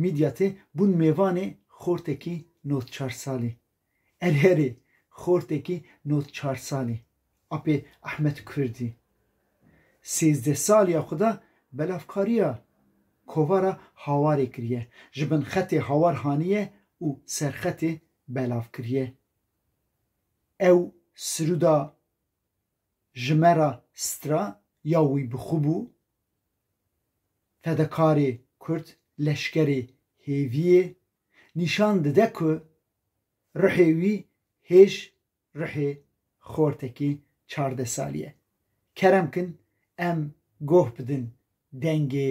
Midyatê bûn mêvanê xortekî nod çar salî. Erê erê, xortekî nod çar salî. Apê Ahmet Kurdî. Sêzdeh saliya xwe da belavkariya kovara Hawarê kiriye. Ji bin xetê Hawar haniye û serxetê belav kiriye. Ew siruda Ji me re stra ya wî bi xwe bû. Fedekarê Kurd leşkerê hêvî yê, nîşan dide ku ruhê wî hêj ruhê xortekî çardeh salî ye. Kerem kin em goh bidin dengê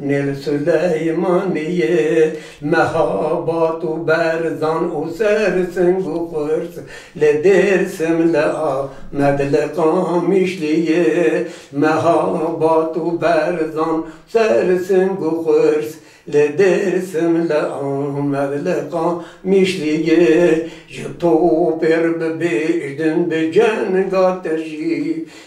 Nil Suleymanî yê mehabat û berzan û ser sing û qurs li Dêrsim, li Amed, li Qamişlî yê mehabat û berzan û ser sing û qurs li Dêrsim, li Amed, li Qamişlî yê ji topê re bibêjtin bi cenga te jî